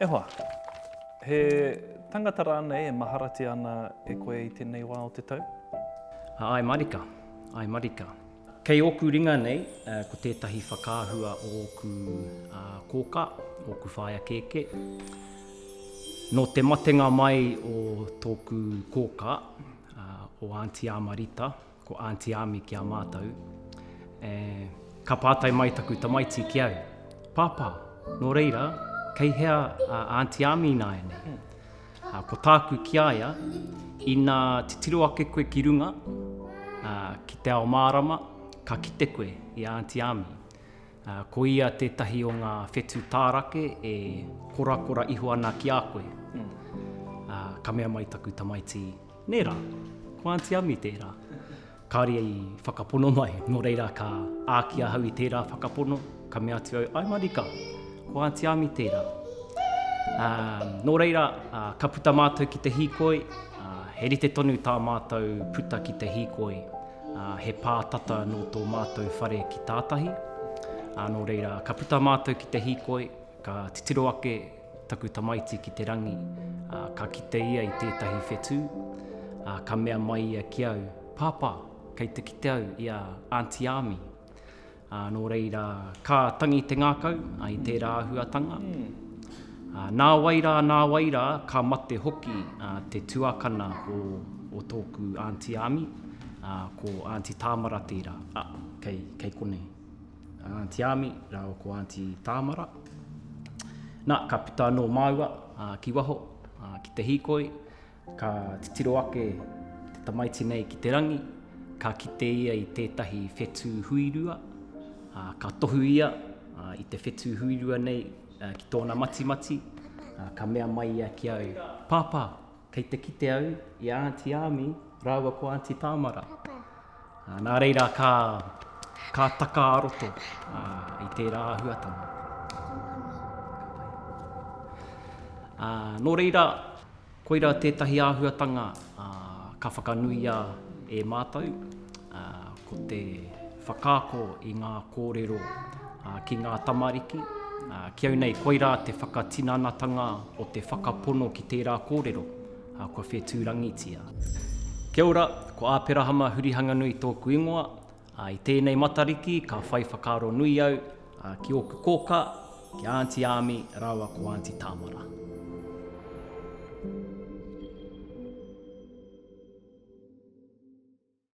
E hoa! He tangata rānei e maharatia ana e koe i tēnei wā o te tau? Āe marika, āe marika. Kei ōku ringa nei, ko tētahi whakaahua o ōku kōkā, ōku whaea kēkē. Nō te matenga mai o tōku kōkā, o Aunty Āmarita, Ko Aunty Ami ki a mātou, e, Ka pātai mai taku tamaiti ki au, Pāpā, nō reira, kei hea a Aunty Ami ināianei? Ā, ko tāku ki a ia, Ina titiro ake koe ki runga, ā, ki te ao mārama, ka kite koe i a Aunty Ami. Ā, ko ia tētahi o ngā whetū tārake e korakora iho ana ki a koe. Ā, ka mea mai taku tamaiti, Nē rā, ko Aunty Ami tērā. Kāore i whakapono mai, nō reira ka āki ahau i tērā whakapono, ka mea atu au, Ai marika, ko Aunty Ami tērā. Ā, nō reira, ā, ka puta mātou ki te hīkoi, ā, he rite tonu tā mātou puta ki te hīkoi, ā, he pā tata nō tō mātou whare ki tātahi, ā, nō reira, ka puta mātou ki te hīkoi, ka titiro ake, Taku tamaiti ki te rangi, ā, ka kite ia i tētahi whetū, ā, ka mea mai ia ki au, Pāpā, kei te kite au i a Aunty Ami. Ā, nō reira, ka tangi te ngākau, ā, i tērā āhuatanga, ā, nāwai rā, nāwai rā, ka mate hoki, ā, te tuakana o, o tōku Aunty Ami, ā, ko Aunty Tāmara tērā, ā, kei, kei konei. a Aunty Ami rāua ko Aunty Tāmara. Nā, ka puta anō māua ki waho, ki te hīkoi, ka titiro ake te tamaiti nei ki te rangi, ka kite ia i tētahi whetū huirua, ka tohu ia i te whetū huirua nei ki tōna matimati, ka mea mai ia ki au, Pāpā, Kei te kite au i a Aunty Ami rāua ko Aunty Tāmara. Nā reira ka, ka taka a roto i tērā āhuatanga. Nō reira, koira tētahi āhuatanga ka whakanuia e mātou. ā, ko te whakaako i ngā kōrero ki ngā tamariki, ā, ki au nei koirā te whakatinanatanga o te whakapono ki tērā kōrero, ā, kua whetūrangitia. Kia ora, ko Āperahama Hurihanganui tōku ingoa, ā, i tēnei Matariki ka whai whakaaro nui au, ā, ki ōku kōkā, ki a Aunty Āmi rāua ko Aunty Tāmara.